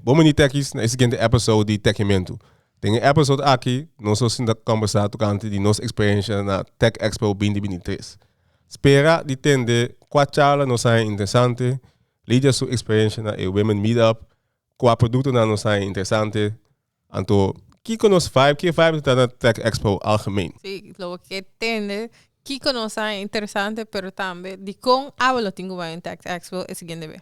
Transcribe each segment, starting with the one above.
Bon bini tèkis na e siguiente episode di Tèkimentu. Den e episode aki nos lo sinta kòmbersá tokante di nos eksperiensha na TechExpo binti binti tres. Spera di tende kua charla nos haña interesante, Lydia su eksperiensha na e Women Meetup, kua produktonan nos haña interesante. Anto kiko nos vibe, ke vibe ta na TechExpo algemeen? Sí, lo bo ke tende kiko nos haña interesante pero tambe dikon abo lo tin ku bai den TechExpo e siguiente bes.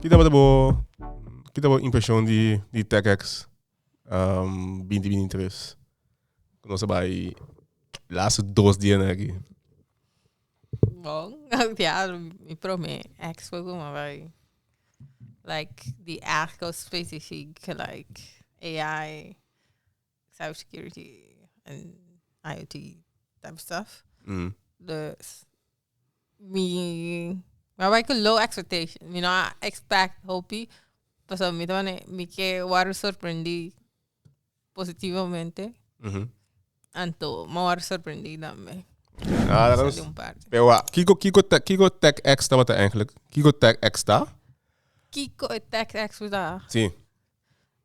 Ki tabata bo ki ta bo impreshon di di tèkèks binti binti tres ku nos a bai laatste dos dianan aki? Bon diablo mi prome eks por guma bai like di èk kos specifiek like AI cyber security en IOT type stuff. Dus mi a bai ku low expectation. Mi no a expect hopi. Pasobra mi ta wòrdu, mi ke wòrdu sorprendí positivamente. Anto mi a wòrdu sorprendí tambe. Kiko kiko kiko tech ex tabata eigentlik? Kiko tech ex ta? Kiko e tech ex ta? Si.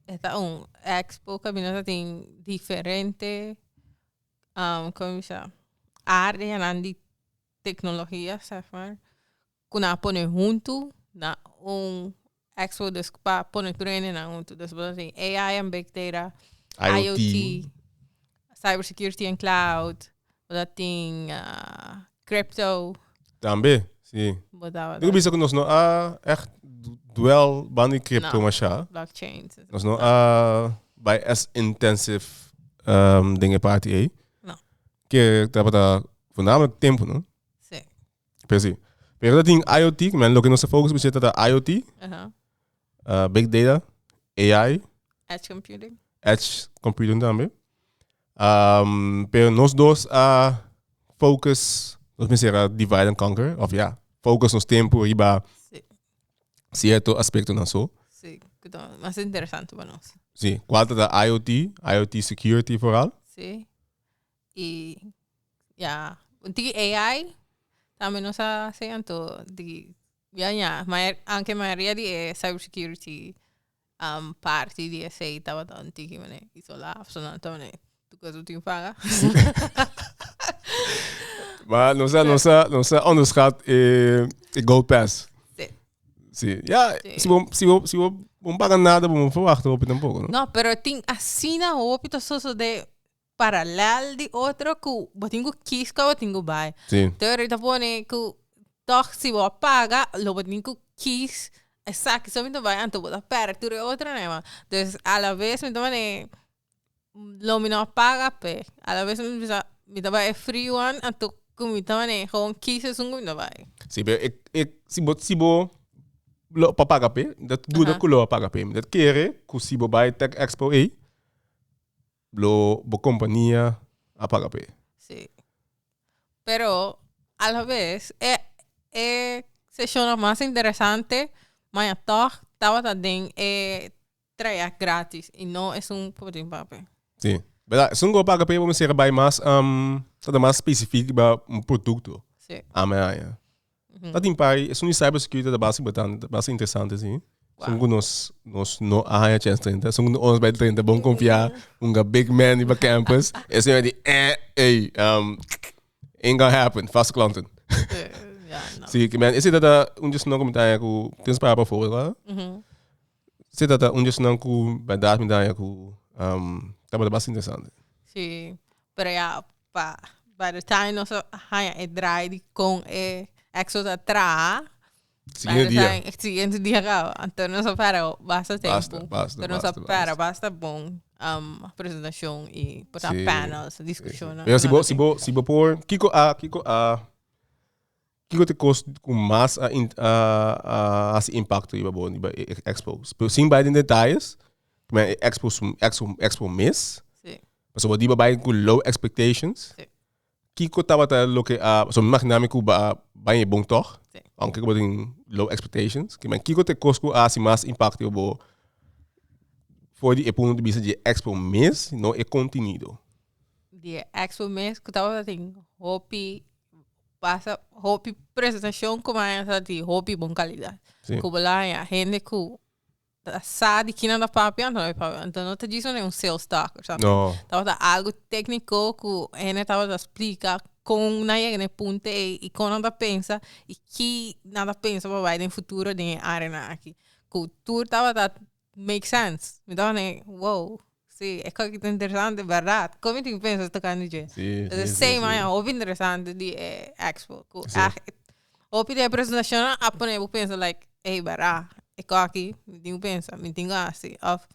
E ta un expo kaminda ta tin diferente como mi bisa areanan di tecnologia seg maar ku nan a pone huntu na un expo dus pa pone tur hende nan huntu dus bo ta tin AI en big data IOT Cyber security and cloud. Bo ta tin crypto. Tambe, si. Bo ta. Tin ku bisa ku nos no a ègt dwèl banda di crypto mashá. No, blockchains. Nos no a bai as intensive den e parti ei. No. Ke tabata fundamentalmente tempu, no? Si. Pero si. Pero tin IOT, ku mi a loke nos ta focus busheti ta IOT. eh, big data, AI, Edge computing. edge computing también. Um, pero nos dos a focus, nos me será divide and conquer, of ja, focus nos tempo riba Sí, cierto aspecto na so. sí. que ta Más interesante para nos. Sí, cual ta da IoT, IoT security vooral. Sí. Y ya, un tiki AI, también nos hacen todo. Di, Ya ña, maya, aunke mayoria di e cybersecurity parti di esey tabata un tiki mene isola, of su nan ta mene tur cos lo tin paga. Maya, nos a, nos a, nos a onderschat e, e gold pass. Sí. Sí, ya, Sí. si bo, si bo, si bo, bo no paga nada, bo no verwacht hopi tampoco, no? No, pero tin asina hopi ta sosode paralel di otro ku bo tin ku kis kua bo tin ku bai. Sí. Theory ta pone ku tòg si bo a paga lo bo tin ku kis esaki so mi ta bai anto bo ta pèrk tur e otro nai wan. Des alabes mi ta mane lo mi no a paga p'e alabes mi bisa mi ta bai e free wan anto ku mi ta mane hon kis esun ku mi ta bai. Sí pero e e si bo si bo lo pa paga p'e mi ta duda ku lo a paga p'e mi ta kere ku si bo bai tech expo ei Lo bo compania a paga p'e. Sí. Pero a la vez e e sesionnan mas interesante maya tog tabata den e trayect gratis y no esun por tin paga p'e. Sí. Berdad, esun cu a paga p'e bo mester a bay mas ta ta mas specific riba un producto. Sí. Amea aña. Ta tin pari, esun di cybersecurity ta basi importante, ta basi interesante, sí. Son ku nos, nos no a haña chance 30, son ku ons bij 30 bon konfia unga big man di pa campus, e señor di eh, ey, um, ain't gonna happen, fast klonten. Sí, ki men, ese ta ta un jesno ku mi ta haña ku tens para pa fogo, tá? Sí ta ta un djosnan cu verdad mi daña cu um, tabata bas interesante. Sí, pero ya pa by the time nos a haña e draai di con e exos a traha, by Siguiente the dia. time e siguiente dia caba. Anto nos a pera basta tempo. Basta, basta, Anto nos a basta, pera basta. basta bon um, presentacion y por ta Sí, panels, sí, sí. discusionan. Pero si bo, si bo, si bo por, Kiko a, Kiko a Kiko ta e kos ku mas a a hasi impakto riba bo riba e ekspo? Pero sin bai den detayes, prome e ekspo su ekspo ekspo mes. Sí. Pasobra di bo bai ku low expectations. Sí. Kiko tabata loke a so mi imagina mi ku ba baña bon tòg. Sí. Aunke bo tin low expectations. Ki men kiko ta e kos ku a hasi mas impakto riba bo for di e punto di bista di e ekspo mes, no e kontinido? Di e ekspo mes ku tabata tin hopi pasa hopi presentacion cu maya sa di hopi bon calidad. Sí. Cu bo la haya hende cu ta sa di kina ta papia, no ta papia. Entonces no ta djis no den un sales talk, snap je? No. Tabata algo técnico cu hende tabata splica con nan yega na e punto ei y con nan ta pensa y ki nan ta pensa pa bai den futuro den e áreanan aki. Cu tur tabata make sense mi ta kende wow si e kòke ta interesante bèrdad kon mi tin pensa tokante dje si si si sey maya hopi interesante di e expo ku ègt hopi di e presentashonnan a pone bo pensa like ey bèrdad e kòki mi tin ku pensa mi tin ku hasi òf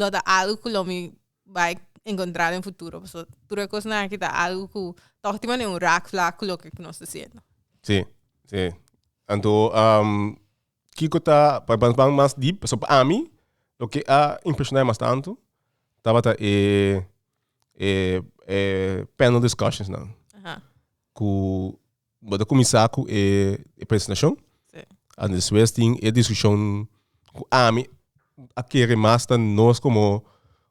lo ta algu ku lo mi bai enkontrá den futuro pasobra tur e kosnan aki ta algu ku ta hopi manera un red flag ku loke ku nos ta siendo. Si si anto. Kiko ta, pa ban ban mas deep, so pa ami, loke a impresionae mas tantu, tabata e, e, e panel discussions nan. Aha. Ku, bo ta kuminsá ku e, e presentashon, Sí. an despues tin e diskushon ku ami a kere mas ta nos komo,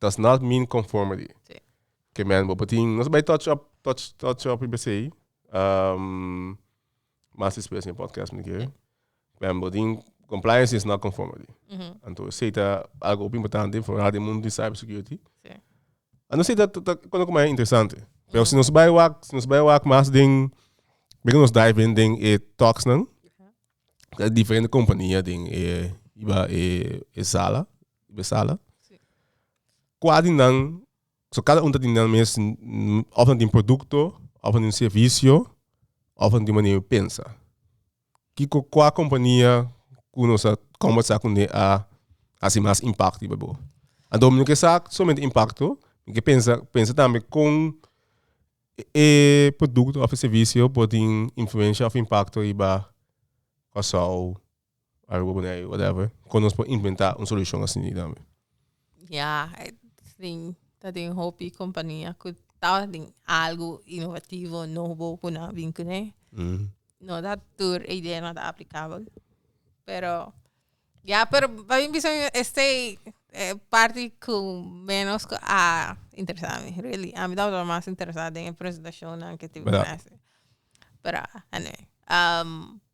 does not mean conformity. Sí. Que men bo patin, nos bij touch up, touch, touch up i besei. Um, mas express in podcast me keer. Men bo tin, compliance is not conformity. Anto seta algo op importante voor radio mundo in cybersecurity. Sí. Ano seta kono kuma interesante. Pero si nos bij wak, si nos bij wak mas ding, bega nos dive in ding e talks nan. Diferente compañía ding e iba e, e sala. di besala. Kua di nan, so kada un ta tin nan mes, of nan tin produkto, of nan tin servisio, of nan tin manera di pensa. Kiko, kua kompania ku nos a kombersa kuné a hasi mas impakto riba bo? Anto mi no ke sa solamente impakto, mi ke pensa pensa tambe kon e produkto of e servisio por tin influensha of impakto riba Kòrsou. Algo por ahí, whatever. Con nos por inventar un solución así ni también. Ya, eh, sí, ta den hopi compañía cu ta den algo innovativo, nobo, cu nan a bin cu ne. Mm. No ta tur e idea no ta applicabel. Pero, ya, pero pa mi bisa esey e parti cu menos cu a interesa mi, really. Ami tabata mas interesa den e presentacionnan cu tin Verdad. Pero, anyway. Um,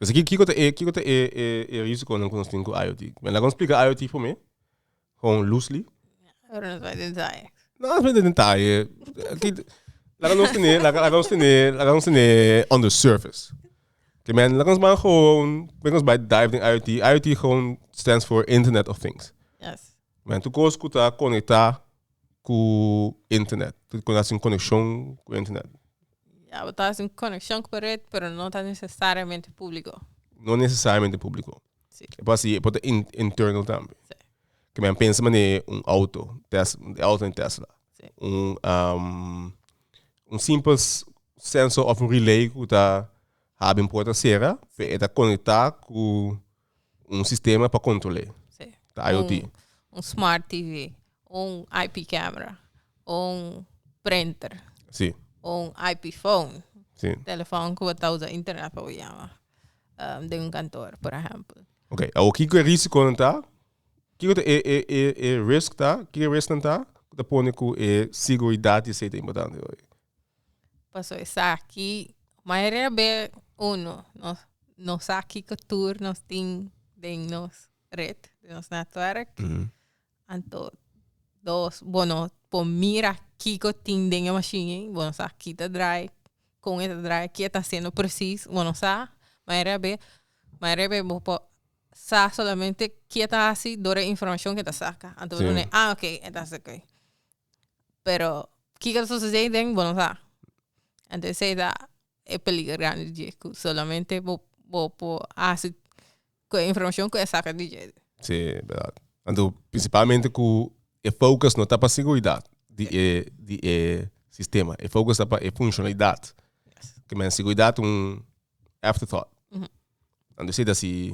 Esaki kiko ta e kiko ta e e risiconan ku nos tin ku IoT? Mi a laga un splika IoT for mi hon loosely. Pero nos bai den detaye. No nos bai den detaye. Laga nos tene laga laga nos tene laga nos tene on the surface. Ke men laga nos man hon bai nos bai dive den IoT. IoT hon stands for internet of things. Yes. Mi anto cos cu ta conecta cu internet cu ta haci un coneccion cu internet. Ya bo ta haci un coneccion cu red pero no ta necesariamente publico. No necesariamente publico. Sí. E por haci e por ta in- internal tambe. Sí. Ke mi a pensa mane un auto, tes- e auto den Tesla. Sí. Un un simpel s- sensor of un relay cu ta abi un puerta cera. Sí. Pe e ta conecta cu. un sistema pa kontrol'é. Sí. Ta IoT. Un, un smart TV, un IP camera, un printer. Sí. Un IP phone. Sí. Telefon ku bo ta usa internet pa bo yama. Um, den un kantor, por ehempel. Ok, awor kiko e risikonan ta? Kiko ta e, e, e, e risk ta? Kiko e risknan ta? Ku ta pone ku e seguridat di esei ta importante hoy? Paso esaki mayoria be uno no no sa kiko tur nos tin den nos red den nos netwerk anto dos bo no por mira kiko tin den e mashin ei bo no sa ki ta drai kon e ta drai ke ta hasiendo presis bo no sa mayoria be mayoria be bo por sa solamente ke ta hasi dor e informacion ke ta saca anto bo ta wunda a oke e ta hasi oke. pero kiko ta sosode ahí den bo no sa anto esey ta e peliger grandi dje ku solamente bo bo por hasi ku e informacion ku e saka di dje si berd anto principalmente ku e focus no ta pa seguridad di e di e sistema e focus ta pa e funcionalidad kimen seguridad un after thought anto esey ta si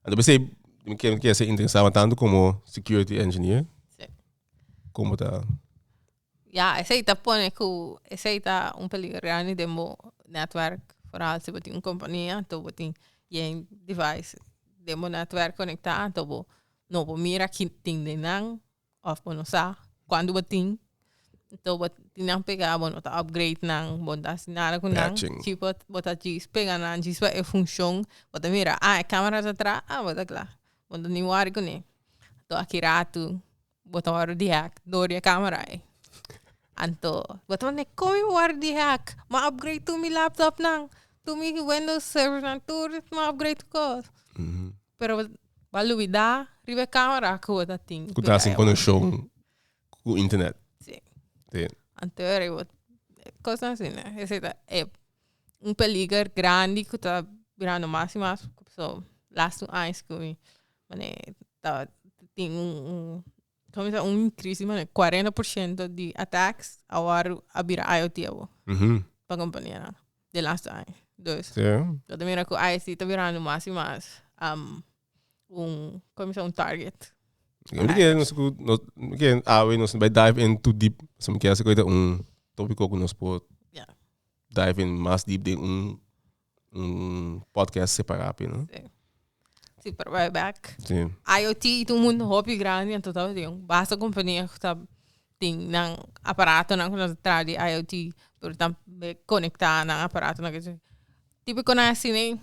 Anto besey mi kier kier ser interesado tanto como security engineer. Sí. Como ta? Ya, esey ta pone cu esey ta un peligro grandi den bo network. Vooral si bo tin un compania, anto bo tin yen device den bo network conecta, anto bo no bo mira kin tin den nan. Of bo no sa cuando bo tin entonces bo tin nan pega bo no ta upgrade nan bo no ta haci nada cu nan chi bo bo ta djis pega nan djis pa e funcion bo ta mira ah e camera ta atrás ah bo ta cla bo no tin worry cune to aki ratu bo ta wor di hack door di e camera ai anto bo ta wene como mi wor di hack ma upgrade tur mi laptop nan tur mi window server nan tur mi upgrade tu cos. Pero bo ta lubida riba e camera cu bo ta tin. Cu ta sin conexion cu internet. Si. Si. Anterior ey bo cosnan así ne. Esey ta e un peliger grandi cu ta birando mas y mas cu pasobra laatste aña cu mi ta tin un. Cominsá un crisis manera cuarenta por ciento di attacks awor a bira IOT abo pa companianan den laatste aña. Dus lo ta mira cu ISD ta birando mas y mas un cominsá un target. Awe nos bai dive in too deep pasobra mi kier a haci un topico cu nos por dive in mas deep den un Un podcast separá p'e, no? Sí. Sí, pero wij back. Sí. IoT i tu mundo hopi grandi anto ta tin basta kompania ku ta tin nan aparatonan ku nan ta traha di IoT pero ta be konektá nan aparatonan ke se tipo kunan a hasi nei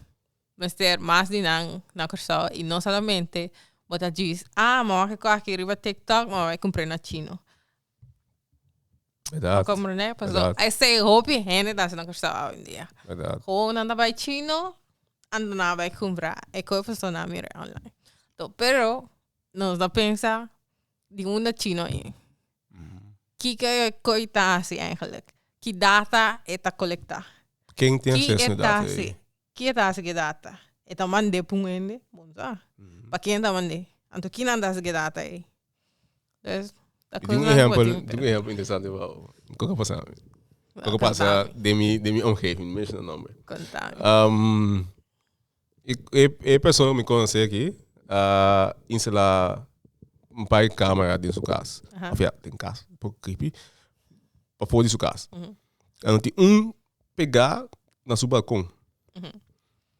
mester mas di nan na Kòrsou i no solamente bo ta djis a mamá ke ko aki riba TikTok mamá e kumpre na chino. Verdad. Comprende? Paso Verdad. e sei hopi hende ta haciendo cristal hoy en día. Verdad. Gewoon nan ta bai chino, anto nan a bai compra e koi paso nan a mira online. To, pero nos ta pensa di unda chino i. Kiko e koi ta haci eigenlijk? Ki data e ta colecta? Ken tin Ki acceso e na ta data haci? ei? Ki e ta haci ki data? E ta mand'e p'un hende? Bon sa. Pa ken e ta mand'e? Anto kinan ta haci ki data ei? There's a Di un close ejempel, one di with un ejempel interesante wou. Kon ka pasa? Kon ka pasa Contame. den mi den mi omgeving, no menshona nòmber. it. Contame. Um, e, e, e persona ku mi konosé aki a instala un par di camera den su kas. Aha. Òf ya, den kas, un poko creepy. Pafó di su kas. Lo tin un pegá na su balkon.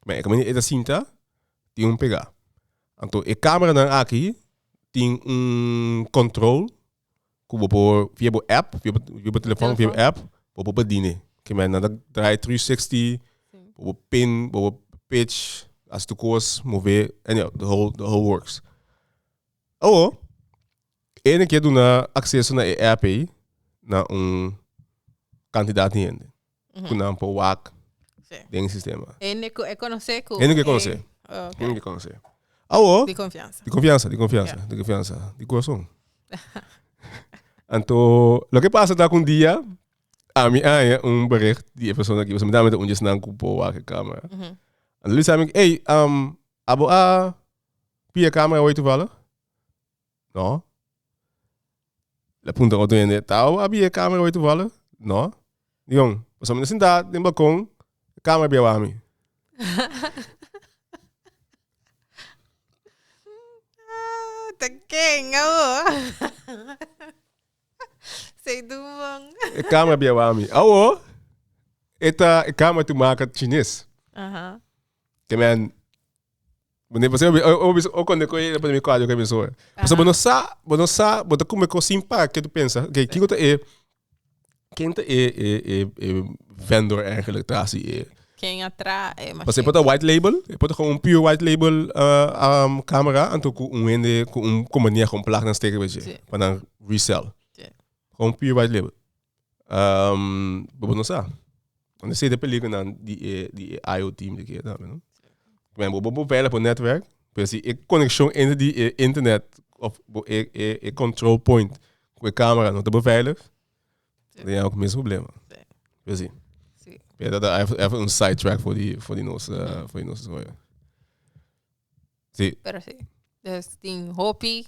Bèn, e kamanera e ta sinta, tin un pegá. Anto e cameranan aki tin un control cu bo por via bo app, via bo via bo telefoon, via bo app bo por pedi ne. Ke mennan ta draai three sixty, bo por pin, bo por pitch, haci tur cos, move, anyhow the whole the whole works. Awo e na kier duna acceso na e app ey na un cantidad di hende. ku nan por wak Sí. den e sistema. Hende ku e konosé ku. Hende ku e konosé. e- ok, Hende ku e konosé. Awo, Di konfiansa. di konfiansa, di konfiansa, di konfiansa, di kurason. Anto, loke pasa ta ku un dia ami haña un bericht di e persona aki, pasobra mi ta mete un di esnan ku por wak e kamera. Anto Luis a mi, ey, abo a pia e kamera hoy tuvallig? No. Lo puntra otro hende, ta abi e camera hoy toevallig? No. Dion, pasobra mi ta sinta den balcon, e camera bia abaha mi. ta ken awo? e camera bia abaha mi. Awo, e ta, e camera ta maka chines. Kemen, Mane p'esei oko na koe e mi kuadro ke beso. Pasobra bo no sa, bo no sa, bo ta kume kos sin para ke ta pensa, okay, kiko ta e, ken ta e e e e vendor eigenlik tras di e. Ken a tra e mashin. Pasobra e por ta white label, e por ta kon un pure white label camera anto ku un hende ku un kompania kon plak nan steker bechi pa nan resell. Kon pure white label. Um, bobo no sa. Wan e sete pelikunan di e, di e IO team di kia tambe, no? Men bobo bo vela po netwerk, pero si e konekshon enter di e internet, of bo e, e, e control point ku e kamera no ta bo veilig, den ya ku mesun problema. Sí. Pero si. Sí. Pero dat a ef, ef un side track for di, for di nos, eh, for di nos. Sí. Pero sí. Dus tin hopi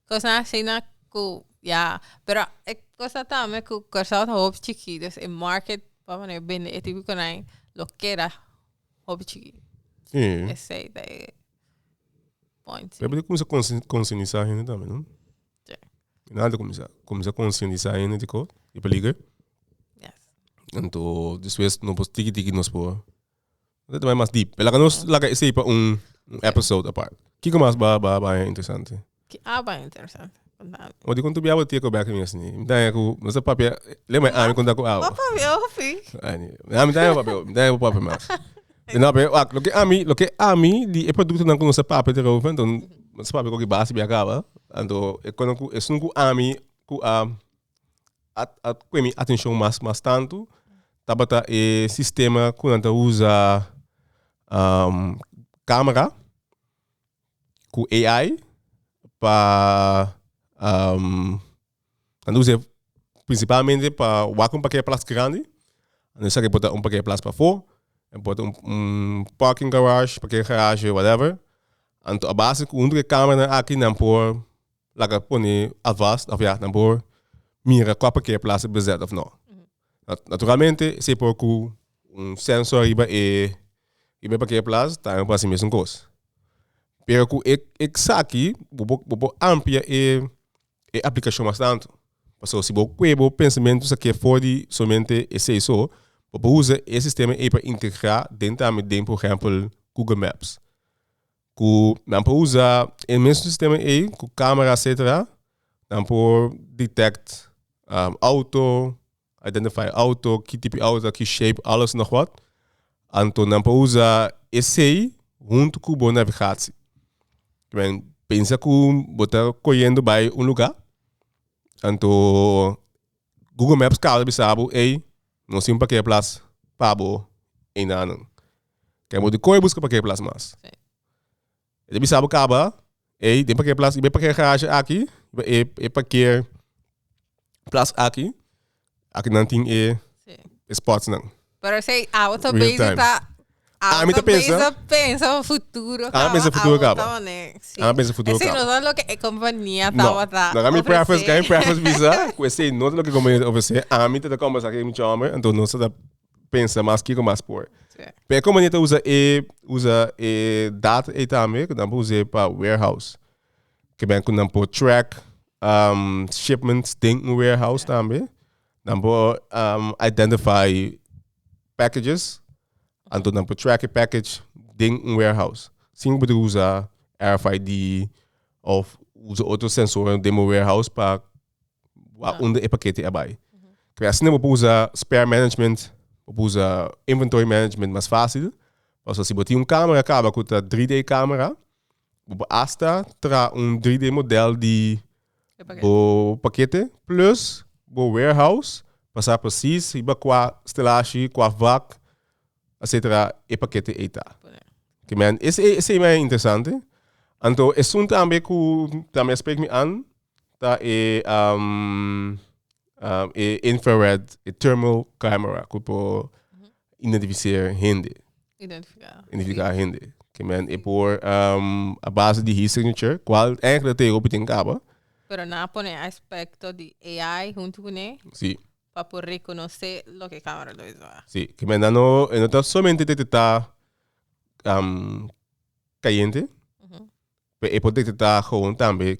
cosnan asina cu ya. Pero e cosa tambe cu Curaçao ta hopi chiki. Dus e market pa poner bende e tipo conai lo keda hopi chiki. Sí. Esey ta e point. sí. Pero comienza consci- concientizar a gente también, ¿no? Sí. En alto comienza. Comienza concientizar a gente tico e peligro. Yes. Anto despues no por tiki tiki nos por Nos ta bai mas deep. Laga nos laga esei pa un episode apart. Kiko mas ba ba ba interesante? Ki a bai interesante. Contame. O di kon tu biaba tia ko bek mi asni. Mi ta ku nos ta papia. Le mai ami konta ku awo. Papa mi ofi. Ani. Ami ta papia. Mi ta papia mas. No pe wak lo ke ami lo ke ami di e produkto nan ku nos ta papia te rovin anto nos ta papia koki base biakaba anto e konan ku esun ku ami ku a a a kue mi atencion mas mas tanto tabata e sistema cu nan ta usa um, camera cu AI pa um nan ta usa e principalmente pa wak un pakia plas grandi nan esaki por ta un pakia plas pafo en por ta un un parking garage pakia garage whatever anto a base cu hunto de camera aki nan por Laga pone alvast of ya nan por mira cua por kere plaza bezet of no. Naturalmente esey por cu un sensor riba e riba e parkeerplaza tambe por haci e mesun cos. Pero cu e esaki bo por bo por amplia e e aplicacion mas tanto. Pasobra si bo cue bo pensamiento sa ke for di solamente esey so bo por uza e sistema ey pa integra den tambe den por ehempel Google maps. Ku nan por usa e mesun sistema ei ku camera etcetera nan por detect auto, identify auto, ki tipo auto ta, ki shape alles nog wat. Anto nan por usa esey hunto ku bo navigatie. Kimen pensa ku bo ta koyendo bai un lugar anto. Google Maps kaba bisa bo, ey, nos tin pa ke plas pa bo enanan. Ke bo di koe buska pa ke plas mas. Sí. E ta bisa bo kaba, ey, den pa ke plas, i bai pa ke garage aki, e, e pa ke plas aki, aki nan tin e, Sí. e spots nan. Pero esei awo ta Real bezi times. ta awo Ami ta ta bezi pensa- ta pensa pa futuro Ami pensa kaba, futuro awo kaba. tabane, si. Ami pensa futuro Esei kaba. no ta loke e kompania No, tabata no kan mi preface, ofresé. kan mi preface bisa ku esei no ta loke e kompania ta ofresé. Ami ta ta kombersá ku e mucha hòmber, anto nos ta ta pensa mas kiko mas por. Sí. P'e kompania ta usa e usa e data ei tambe ku nan por us'é pa warehouse. Ke ben ku nan por track shipments den un warehouse tambe. Nan por um, identify packages, anto nan por track e package den un warehouse. Sin por usa RFID of usa otro sensor den un warehouse pa wa under e paquete abai. Kaya asina por usa spare management, por usa inventory management mas fácil. Paso si por tin un cámara kaba ku ta 3D camera, Bo por hasta tra un 3D model di bo pakete plus bo warehouse pa sa precies riba kua stelashi, kua vak, etcetera e pakete ey ta. Oke men, ese ese men interesante. Anto esun tambe ku tambe a spreek mi an ta e um e infrared, e thermal camera ku por Identificeer hende. Identificar. Identificar hende. Que men e por um, a base di his signature, cual eigenlijk te hopi ten caba. Pero na pone aspecto di AI junto con él. Sí. Para poder reconocer lo que cámara lo hizo. Sí, que men no, no está solamente detectar um, cayente, uh -huh. pero e puede detectar gewoon también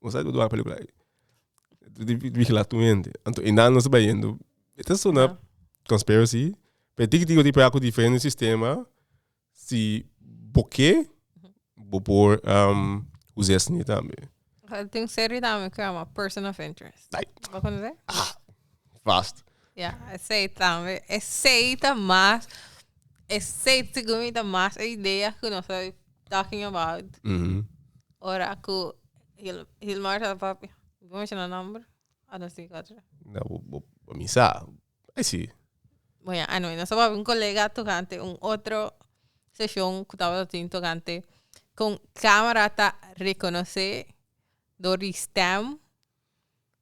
Bo sa ku dua pelikula ei. Di vigila tur hende. Anto e nan nos ta bayendo. E ta sona conspiracy, pe tiki tiki di praku diferente sistema, si bo ke, bo por usa esei tambe. Ai tin serie tambe ku a yama Person of Interest. Ai. Bo konosé? Ah, vast. Ya, esei tambe. Esei ta mas, esei sigur mi ta mas e idea ku nos ta talking about. Ora ku Hil, Hilmar sa papi. Bo menshona nomber? A nos tin cuatro. Na bo, bo, bo mi sa. Ai si. Bo ya, anyway, nos tabata un kolega tokante un otro seshon ku tabata tin tokante kon kamera ta rekonosé dor di stèm,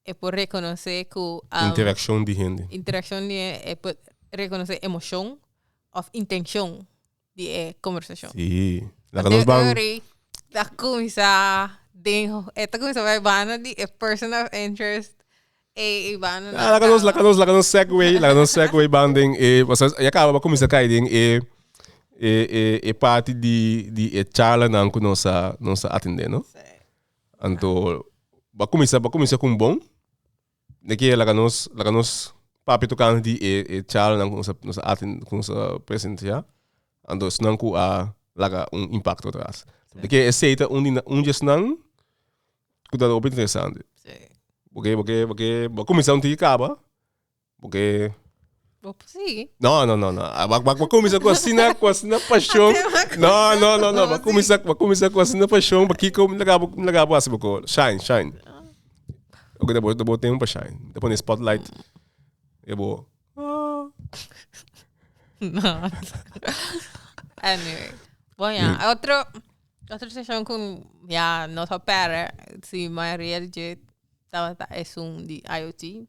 e por rekonosé ku, Interakshon di hende. interakshon di hende, e por rekonosé emoshon òf intenshon di e conversacion. Sí. La Así nos ban... Uri ta kumisa den, e ta kumisa bai banda di e person of interest. E i banda na Ah, la ka nos, la ka nos, la ka nos segue, la ka nos segue ban den e, o sea, ya kaba ba kumisa kai den e e e e parti di di e charlanan ku nos a nos a atende, no? Sí. Anto ba kumisa ba kumisa ku un bon. Ne ke laga nos laga nos papia toka nos di e e charlanan ku nos a nos a aten ku nos a presensia anto esnan ku a laga un impakto atras. Te ke esei ta un di na un di esnan ku ta hopi interesante. Bo ke bo ke bo ke bo a kuminsá untu e kaba bo ke. Bo por sigui. No, no, no, no. Ah, Ba, ba, ba comienza con así na, con así na pasión. No, no, no, no. Ba comienza, ba comienza con así na pasión. Ba kiko me laga, me laga bo así boko. Shine, shine. Oké, dan bo, dan bo tempo pa shine. Dan pone spotlight. E bo. No. anyway. Bon, ja. Mm. Otro, otro station con, ja, no so pere, si Maria Jet, tawata es un di IoT.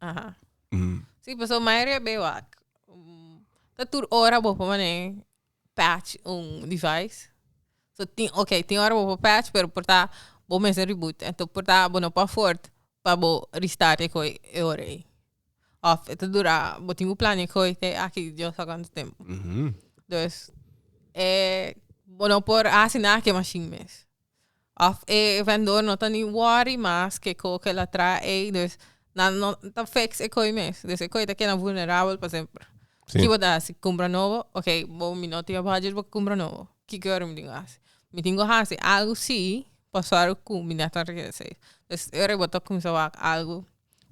Aha. Mm. Sí, paso mayoría beu ak. Mm, ta tur ora bo por mané patch un device. So tin, okay, tin ora bo por patch pero por ta bo mester reboot. Ento por ta bo no por aford pa bo restart e koe e ora ei. Of ta dura, bo tin bo plania e koe te aki Dios sa kantu tempo. Mhm. Dus, eh, bo no por hasi nada ku e mashien mes. Of e vendor no ta ni worry mas ke ko ke el a traha ei, dus nan no ta fix e koe mes. Dus e koe ta keda vulnerabel pa semper. Sí. Ki bo ta hasi? Kumpra nobo? Ok, bo mi no tin e budget bo kumpra nobo. Ki ke ora mi tin ku hasi? Mi tin ku hasi algu si pa sòru ku mi na ta regres'é. Dus e ora bo ta kuminsá wak algu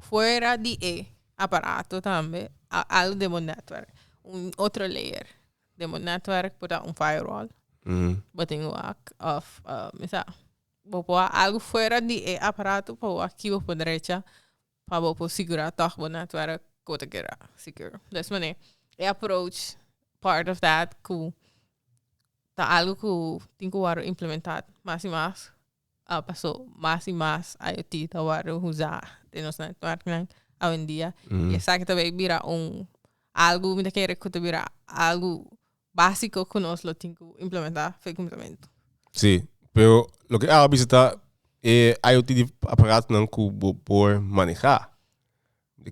fuera di e aparato tambe, a algu den bo network, un otro layer. den bo netwerk por ta un firewall. Bo tin un hak of misa bo por ha algu fuera di e aparato pa bo aki bo por drecha pa bo por sigura tog bo netwerk bo ta keda secure. Des manera e approach part of that cu ta algo cu tin cu wor implementat mas y mas. a paso mas y mas IOT ta wordo usa den nos networknan awendia y esaki ta bay bira un algo mi ta kere cu ta bira algo basico cu nos lo tin cu implementa fe complemento. Sí, pero loke a bisa ta e IOT di aparatonan cu bo por maneha.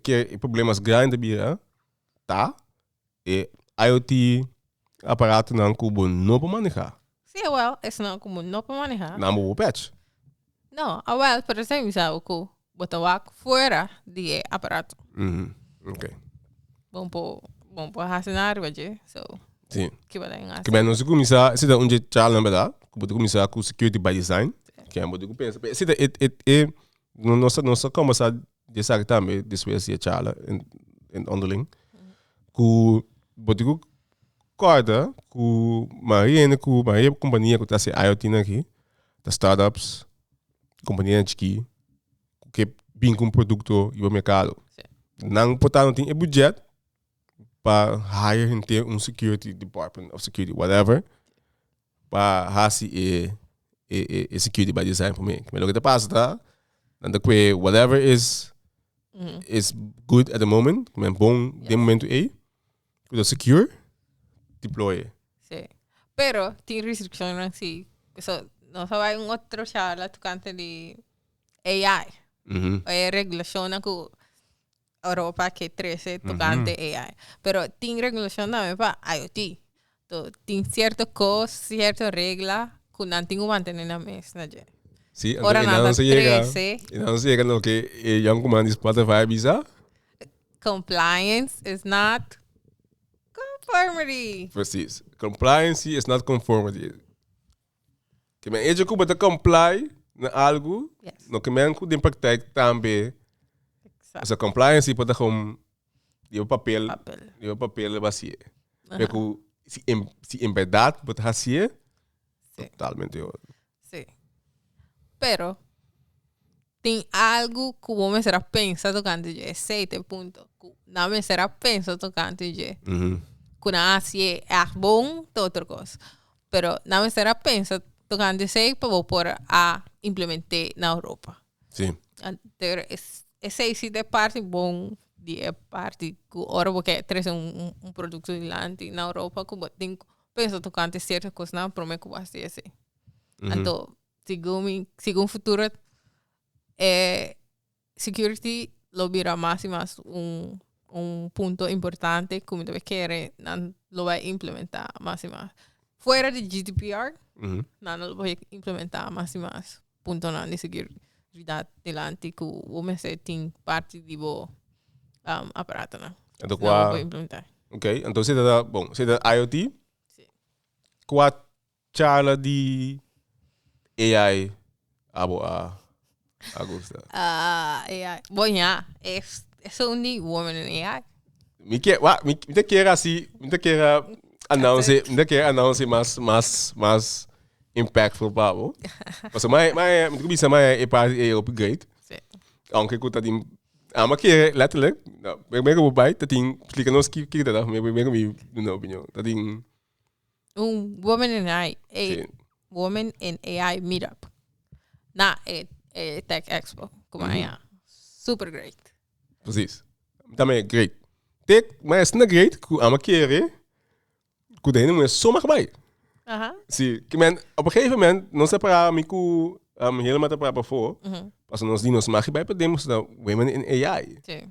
Ker e problemas grandi ta bira ta. E IoT aparatonan ku bo no por maneha. Sí, awel, esnan ku bo no por maneha. Nan bo por pech. No, awel, pero esei mi sa bo ku bo ta wak fuera di e aparato. Mhm, ok. Bo no por, bo no por hasi nada riba dje, so Sí. kiba den hasi? Kiba nos a kuminsá, si ta un dje chalnan, berda, ku bo ta kuminsá ku security by design, kiba bo ta ku pensa. Pero esei ta e, e, e, nos ta, nos ta kòmbersá. di esaki tambe despues di e chala en, en onderling. Ku botiku korta ku mayoria hende ku mayoria kompania ku ta hasi IoT nan aki ta start-ups, kompanianan chikí ku ke bin ku un produkto riba merkado. Sí. Nan por ta no tin e budzhet pa hire henter un security department of security whatever pa hasi e e e security by design for me. Lo que te pasa ta, nan ta kwe whatever is is good at the moment, men bon de momento ei, kuda secure, deploy. Sí. Pero tin restriccionnan sí. So, no sa vai un otro charla tocante di AI. Mm -hmm. E regulacionnan cu Europa ke trese tokante AI. Pero tin regulacion tambe pa IOT. To tin cierto cos, cierto regla cu nan tin cu mantene nan mes na dje. Sí, Ora entonces nan nan ta se llega, trece. y nan se llega no que eh, Jan Kuman di Spotify bisa. Compliance is not conformity. Precies. Compliancy is not conformity. Ke men eje ku bo ta comply na algu, Yes. no ke men ku den praktijk tambe Exact. sa compliance i pota gewoon di bo papel, Papel. di bo papel ba sie. Pe ku si en si en verdad bo ta hasie, Sí. totalmente otro. Sí. Pero, Tin algu ku bo mester a pensa tokante dje? Esei ta e punto ku nan mester a pensa tokante dje. Ku nan a hasi e ègt bon te otro kos. Pero nan mester a pensa tokante esei pa bo por a implement'é na Europa. Sí. Hunter esei si ta e parti bon di e parti ku ora bo ke trese un produkto dilanti na Europa ku bo tin ku pensa tokante sierto kosnan promé ku bo hasi esei. Anto Segun mi segun futuro e security lo bira mas y mas un un punto importante cu mi ta bay kere nan lo bay implementa mas y mas fuera di GDPR nan lo bay implementa mas y mas puntonan di seguridad dilanti cu bo mester tin parti di bo aparatonan nan lo bay implementa. Ok entonces si ta IOT cua Charla di AI abo a a gusta. Ah, AI. Bo ña, es, es un di woman en AI. Mi ke, wa, mi, mi te kere asi, mi te kere announce, mi te kere announce mas, mas, mas impactful pa abo. Paso mae, mae, mi te ku bisa mae e party e hopi great. Sí. Aunque ku ta tin, ama kere letterlijk, na, primer ku bo bai, ta tin, splika nos ki, kiko ta ta, primer ku mi duna opinion. Ta tin, Un Woman and AI. E, Sí. Woman and AI Meetup. Na e, e Tech Expo. Como Mhm. allá. Super great. Precies. También great. Te, maar is na great cu ama kere cu den de mujer soma ga bay. Aha. Sí, que men, op een gegeven moment, nos ta para, mi cu um, Hilma ta para before, Mhm. paso nos di nos mag bay pa den, nos ta Women in AI. Sí.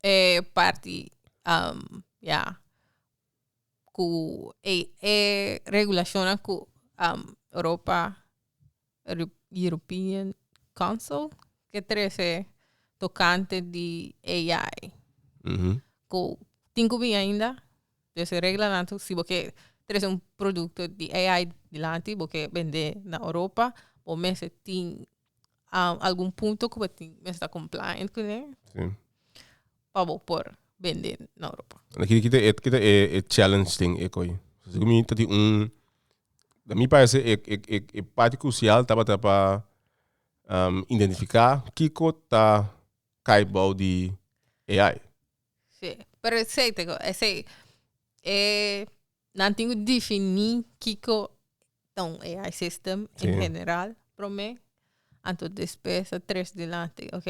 E parti ya ku e e regulashonnan ku europa European council ke trese tokante di AI ku tin ku bin ainda des e reglanan si bo ke trese un produkto di AI dilanti bo ke bend'é na europa bo mester tin. um, algun punto ku bo tin mester ta compliant ku ne Sí. pa bo por bende na Europa. Na kiri kita e kita e e challenge thing e koi. Así mi tati un da mi parece e e e e parte crucial tabata pa um, identificar kiko ta kai bou di AI. Sí, pero esei te go, esei e Nan tin cu definí kico ta un AI system en general prome, anto despues a tres dilanti, ok.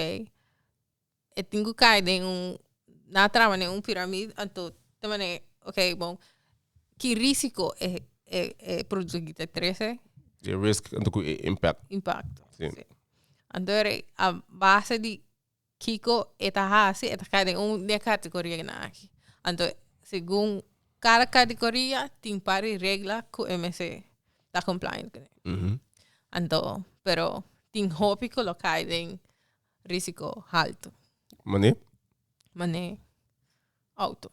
E tin cu cay den un, na traba den un piramid, anto ta manera, ok bon, ki risico e, e, e produto ki ta trece? Di risk, anto cu e impact. Impacto. Sí. Anto a base di. Kiko e ta hasi e ta kai den un di e kategoria nan aki anto segun kada kategoria tin par di regla ku e mester ta compliant ku nan anto pero tin hopi ku lo kai den risiko halto. Mane? Mane auto.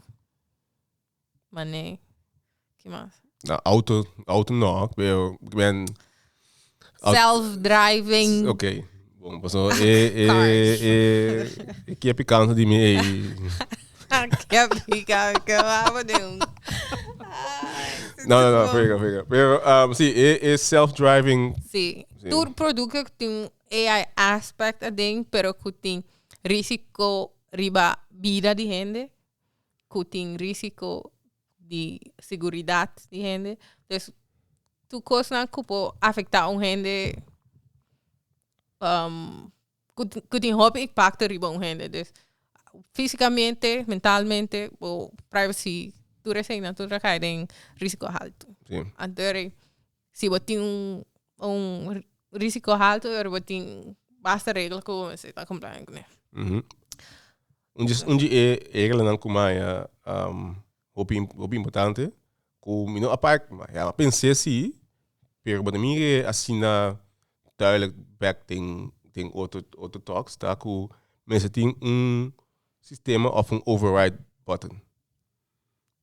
Ma nee. Ki mas? Na auto, auto no, pero ik ben Au- Self-driving. Ok, bon, paso e e Cars. e e kepi kansa di mi ei. Kep di ka, ke wou di un. No, no, no, frega, frega. Pero um, si, e e self-driving Sí. Sí. Tur producto ku tin un AI aspect aden, pero ku tin risiko riba bida di hende, cu tin risico di siguridad di hende. Dus tur cosnan cu por afecta un hende um cu tin hopi impacto riba un hende. Dus fisicamente, mentalmente bo privacy tur esey nan tur ta cay den risico alto. Anto si bo tin un risico alto bo tin basta regla cu bo mester ta comply cu nan. Un dje un dje e reglanan ku mai a hopi hopi importante ku mi no apa a pens'é si pero bo ta mir'é asina duidelijk bèk den den otro otro tòks ta ku mester tin un sistema òf un override button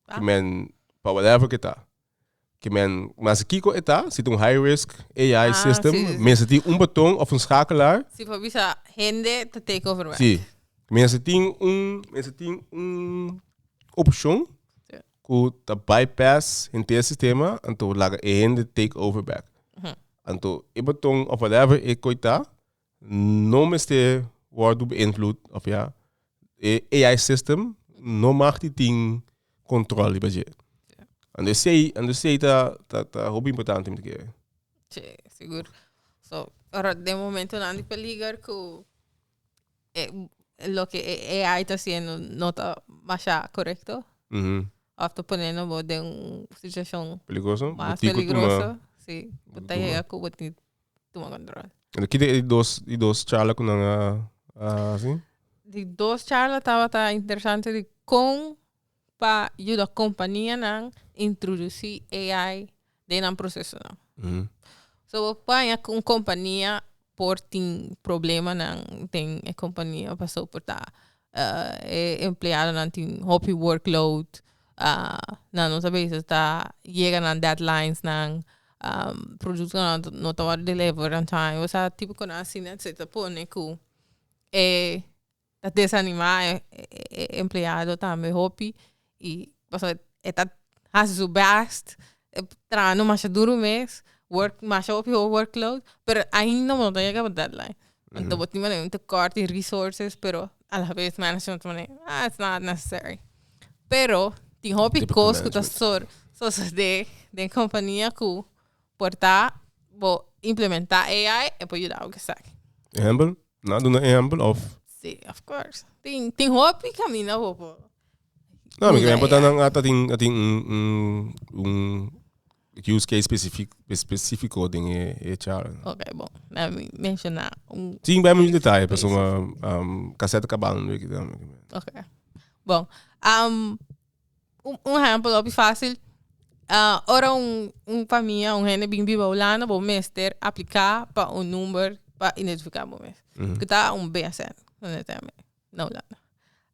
Ke men, pa whatever ke ta. Ke men, mester kiko e ta, si ta un high risk AI ah, system, si, si, si. mester tin un boton of un schakelaar. Si for bisa hende ta take over werk. Si. Mester tin un, mester tin un opcion ku ta bypass henter e sistema anto laga e hende take over back. Anto e boton of whatever e koi ta, no mester wordu beïnvloed of ja e AI system no mag ti tin control riba dje. Ando esei, ando esei ta ta ta hopi importante mi ta kere. Che, sigur. So, ora den momento nan di peliger ku e, lo ke e AI ta siendo no ta masha korekto Mhm. of ta ponendo bo den un situashon Peligroso? Bo mas tin ku tuma. peligroso. Si, bo ta Tuma. yega ku bo tin tuma control. Ento kit e dos, e dos charla cu nan a, a haci? Di dos charla tabata interesante di con pa yuda companianan introduci AI den nan procesonan. Mm. So bo paña cu un compania por tin problemanan den e compania, pasobra por ta e empleadonan tin hopi workload, nan nos a bese ta yega nan deadlinesnan, productonan no ta wòrdu deliver on time, o sea tipo cosnan asina etcetera pone cu e ta desanima e empleado tambe hopi. y pasobra e ta haci su best e trahando masha duro mes work masha hopi ho work load pero ainda bo no ta yega bo deadline anto bo tin manera un tekort in resources pero ala vez management ta manera ah it's not necessary pero tin hopi cos cu ta sor sosode den compania cu por ta bo implementa AI e por yuda bo keseki. Ehempel? Na duna ehempel of? Sí, of course tin tin hopi camina bo por. No, mi keren portan nan at atin atin un un un use case specific specifico den e e chara. Okay, bon. Na mi menciona un Sin ben mi detalle, pero suma um, cassette cabal no ik dan. Okay. Bon. Um, un, un ejemplo hopi fácil. Uh, ora un, un familia, un hende bin biba Holanda, bo mester aplica pa un number pa identifica bo mes. Mm. Kita un BSN, no ne teme. na Hulanda.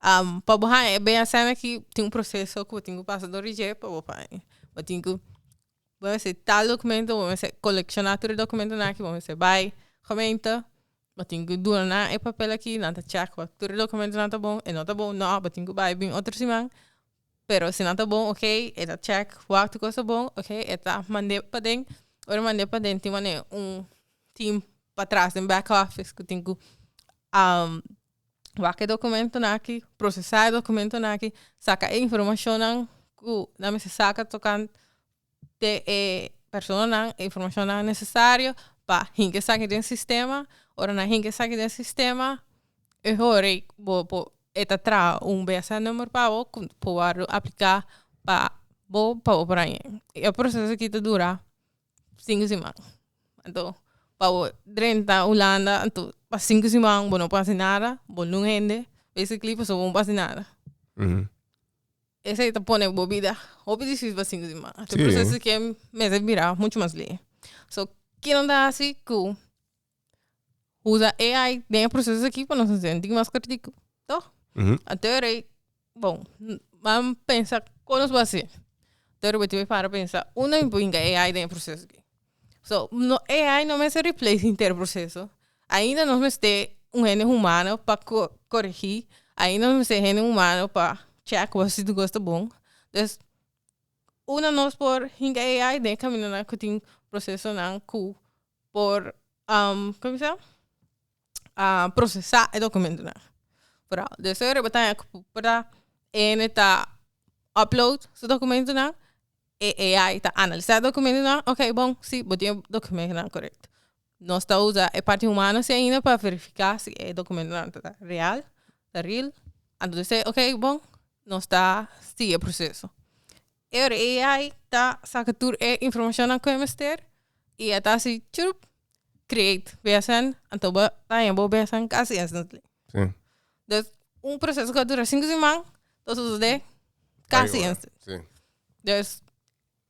Am pa bo haña e bea sana ki tin un proseso ku bo tin ku pasa dor di dje pa bo pa haña. Bo tin ku bo mester tal dokumento, bo mester kolekshona tur e dokumentunan aki, bo mester bai gemeente, bo tin ku duna nan e papel aki, nan ta chèk ua tur e dokumentunan ta bon, e no ta bon, nò bo tin ku bai bin otro siman Pero si nan ta bon ok e ta check wak tu cos ta bon ok e ta mande paden ora e mande paden tin wanneer un team patras den back office cu tin cu wak e documentonan aki procesa e documentonan aki saca e informacionnan cu nan mester saca tocante te e personanan e informacionnan necesario pa hinca esaki den sistema ora nan hinca esaki den sistema e hora bo por e ta traha un bsn number pa bo cu por word'o aplica pa bo pa bo por a yen e proceso aki ta dura cinco siman anto pa bo drenta hulanda anto pa cinco siman bo no por haci nada bo no un hende basically pasobra bo no por haci nada. Esei ta pone bo bida hopi difícil pa sinti si man a tur proceso ke mester bira mucho mas lei so ke nan ta haci cu usa AI den e proceso aki pa nos senti mas kritico to aterei bon ban pensa con nos basi aterei betibe para pensa uno ain por hinca AI den e proceso aki. So no AI no mester replace henter proceso ainda nos mester un hende humano pa co coregi ainda nos mester hende humano pa check wos si tu cos ta bon dus una nos por hinca AI den e camino nan cu tin proceso nan cu por kico kico. a procesa e documentonan vooral dus dor riba taya cu porta ene ta upload su documentonan e AI ta analisa e documentonan okay bon si bo tin e documentonan correcto nos ta usa e parti humano si ainda pa verifica si e documentonan ta real ta real anto de ser okay bon nos ta sigue e proceso. E ora e AI ta saka tur e informacionnan cu e mester y e ta haci churup create BSN anto bo daña bo BSN casi instantly dus un proceso cu a dura cinco siman ta sucede casi instantly dus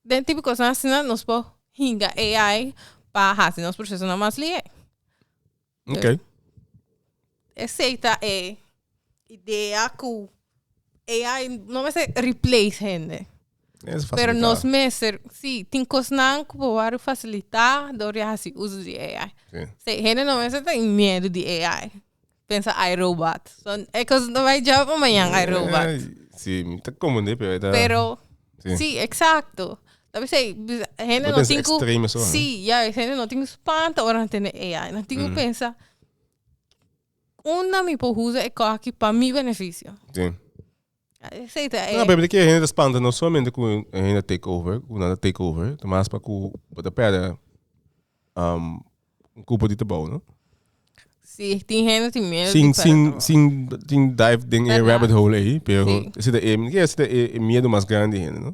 den tipo cosnan asina nos por hinga AI pa haci nos procesonan mas lihe. Ok. Esey ta e idea cu AI no mester replace hende. Es Pero facilitá. nos mester, sí, tin cosnan cu por word facilitá door di haci uso di AI. Sí. Sí, hende no mester tin miedo di AI. Pensa iRobot. So, e cos no bay job pa mañan iRobot. Ay, Sí, mi ta comende, pero ahí ta. Pero, Sí. sí, exacto. Ta bis'ei hende no tin ku si juis hende no tin ku spanta ora nan tende AI nan tin ku pensa unda mi por usa e kos aki pa mi beneficio esei ta e. Pero e hende ta spanta no solamente ku e hende ta take over ku nan ta take over ta mas pa ku bo ta perde un kupo di trabou no. Si tin hende tin miedo di perde trabou. Sin tin dive den e rabbit hole ei pero esei ta e miedo mas grandi di hende no.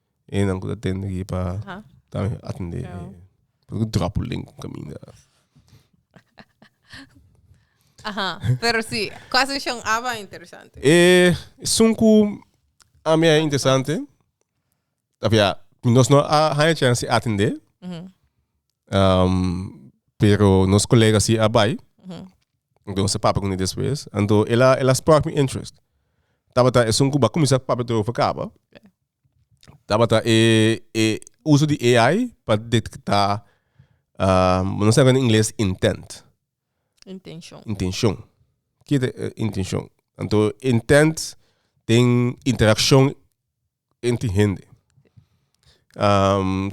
E nan ku ta tende aki pa tambe atende e puru dropuling ku kaminda. Aha, pero si, ku a seshon aba interesante. E esun ku ami a interesante, of ya, nos no a haña chansi atende, pero nos kolega si a bai, anto nos a papia kuné despues, anto el a, el a spark mi interest. Tabata esun ku bo a kuminsá papia tur over kaba. Tabata e e uso di AI pa detekta nos na ingles intent Intenshon. intenshon kiet e intenshon anto intent den interakshon entre hende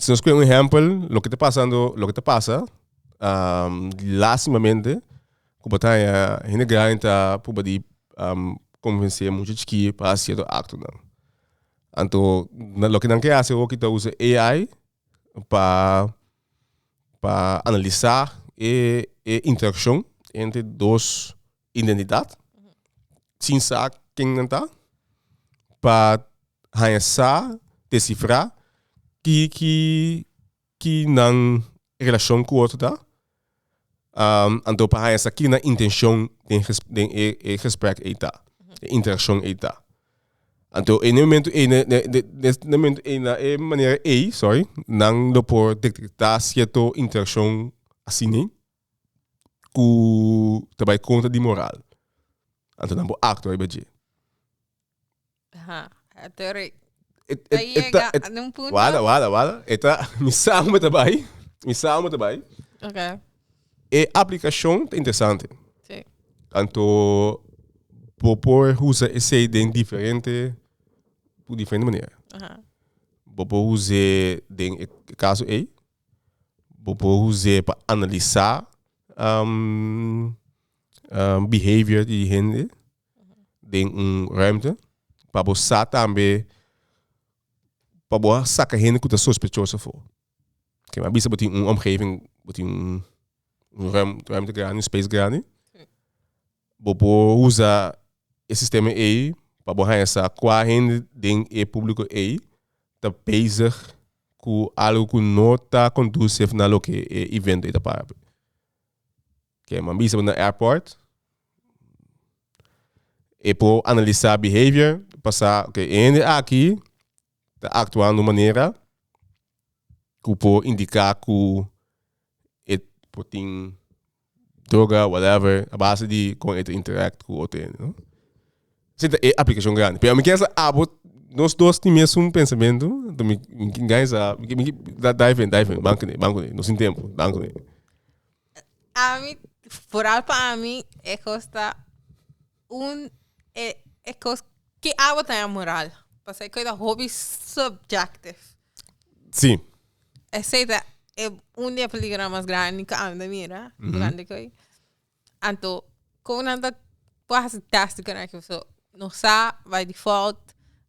si nos ku'e un ehèmpel loke ta pasando loke ta pasa lastimamente ku bo ta haña hende grandi ta pruba di kombense mucha chikí pa ha sierto aktonan. Anto na loke nan ke hasi hoki ta usa AI pa pa analisa e e interakshon entre dos identidat sin sa ken nan ta pa haña sa desifra ki ki ki nan relashon ku otro ta, anto pa haña sa ki nan intenshon den den e e gesprek ei ta, e interakshon ei ta. Anto e momentu ei na e manera ei, sòry, nan lo por detektá sierto interakshon asina ku ta bai kontra di moral. Anto nan por aktua riba dje. Aha, ater ta yega na un punto. Wada, wada, wada. E ta, mi sa ome ta bai, mi sa ome ta bai. Ok. E aplikashon ta interesante. Si. Anto bo por usa esei den diferente, ku diferente manera. Aha. Bo por us'é den e kaso ei, bo por us'é pa analisá behavior di hende. den un ruimte pa bo sa tambe pa bo a saka hende ku ta sospechoso afo. Ke mi a bisa bo tin un omgeving bo tin un un ruim ruimte grandi un space grandi bo por usa e sistema ei pa bo haña sa kua hende den e publiko ei ta bezig ku algu ku no ta kondusif na loke e evento ei ta para. Ke man bisa bo na airport. E por analisa behavior pa sa ok e hende aki ta aktua na un manera ku por indika ku e por tin droga whatever a base di kon e ta interact ku otro hende. Esei ta e aplikashon grandi. Pero mi kier sa abo nos dos tin mesun pensamentu, anto mi tin gana sa mi mi da da efent da efent ban kuné ban kuné no sin tempu ban kuné. Ami foral pa ami e kos ta un e e kos ke abo ta amoral paske e kos ta hopi subjective. Sí. Esei ta e un di e peligro mas grandi ku ami ta mira durante ko ei Anto con nan ta por hasi test cu nan so no sa by default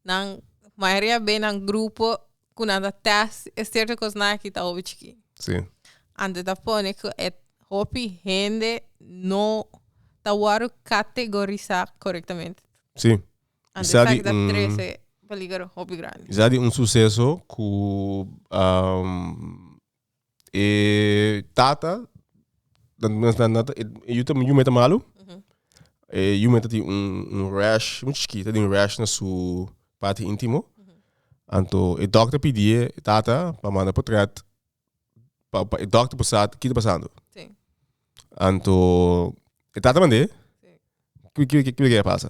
nan mayoria bay nan grupo cu nan ta test e cierto cos nan aki ta hopi chiki si anto ta pone cu e hopi hende no ta wordo categorisa corectamente si anto esaki di ta trece peligro hopi grandi esaki di un suceso cu E tata e yume ta malu e yume ta tin un rash mucha chikit ta tin un rash na su parti intimo anto e doctor pidi e tata pa manda pa track pa e doctor por sa ki ta pasando anto e tata mande kico kico kico a pasa.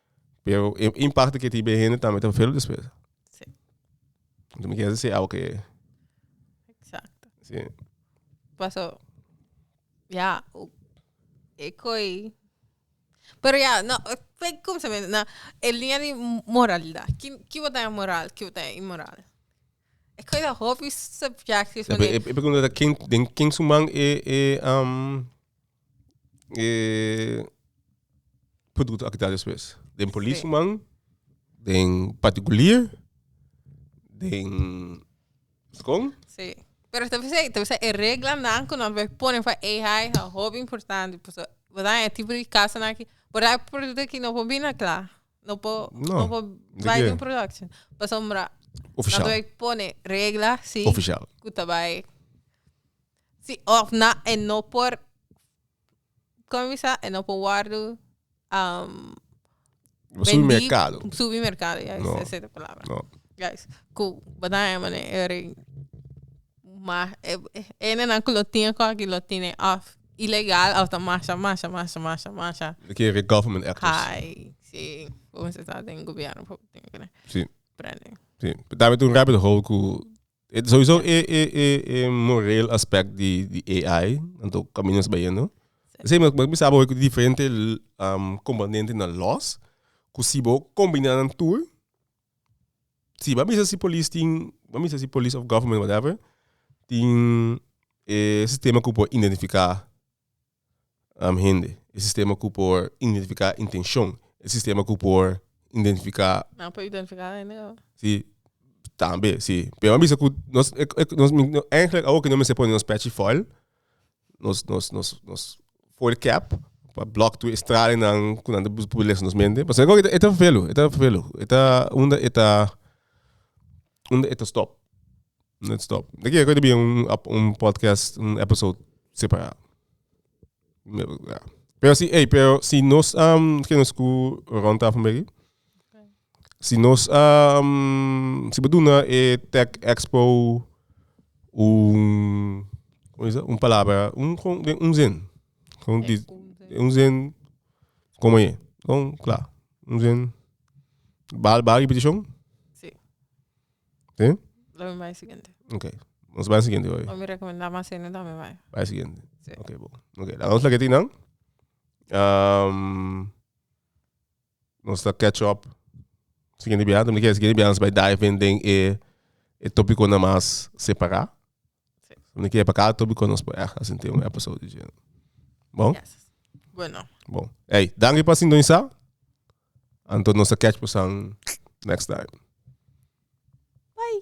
Pero e impacto ke tin be hende tambe ta velo despues. Sí. Entonces mi kier si awe ke. Exacto. Sí. Paso, ya, e koi. Pero ya, no, fake como se me, na, el línea de moralidad. ¿Quién, quién vota en moral? ¿Quién vota en inmoral? Es que da hobby subjective. Pero, pero, pero, ¿quién, quién suman e, e, um, eh, producto aki ta despues. Den polis man, den particulier, den skon. Sí. Pero te bisa, te bisa e reglanan ku nan bai pone for ei hai a hopi importante. Paso borda e tipo di kasanan ki borda e produkto ki no por bina kla. No por No, no por di bai ke? den production. Pasobra Ofishal. nan bai pone regla si Ofishal. ku ta bai Si òf na e no por kòmen mi sa e no por wòrdu Subi merkado. bendí subi merkado ya No. esa es de palabra No. guys ku bata e mane e rei ma e hende nan ku lo tin e kòki lo tin e òf ilegal òf ta masha masha masha masha masha Lo ke e government actors. hai si por mi se sa den gobierno por tin kende Si. prende Si. Dame tur un rapido hou ku E sowieso e e e e moreel aspect di di AI, anto camino nos bayendo. Ese me me bisa bo diferente um, componente na laws, cu si bo combina nan tur, si ba bisa si police tin, ba bisa si police of government whatever, tin e sistema cu por identifica Nam hende. E sistema ku por identifiká intenshon. E sistema ku por identifiká. Nan por identifiká hende kaba? Si, tambe si. Pero nan bisa ku nos èntrek awor ku nos mester pone nos pèchi fòil, nos nos nos nos foil cap pa blòk tur e stralnan ku nan ta busca por lesa nos mente. Pasobra e ta vervelu, e ta vervelu. E ta unda e ta Unda e ta stop? Unda e ta stop? De kia ku e ta bira un ap un podcast un episode separá? Pero si ey pero si nos am ke nos ku rond tafel me aki si nos am si bo duna e tech expo un como se dice un palabra un kon den un zin kon di un zin komo aye kon kla. Como se llama? Baja, baja ki peticion? Sí. Sí? Lo mi bai siguiente. Ok. Nos bai siguiente hoy. O mi recomenda mas ene da mi bai. Bai siguiente. Sí. Ok, bo. Ok, la nos la que tinan. Um, nos ta catch up. Siguiente biaha, también que siguiente biaha nos bai dive in den e, e tópico na mas separá. Ni ke pa ka tobi kon nos por echt a sinti un episode di Jane. Bon? Yes. Bueno. Bon. Hey, danki pa sintonisa. Anto nos a catch pasan next time. Bye.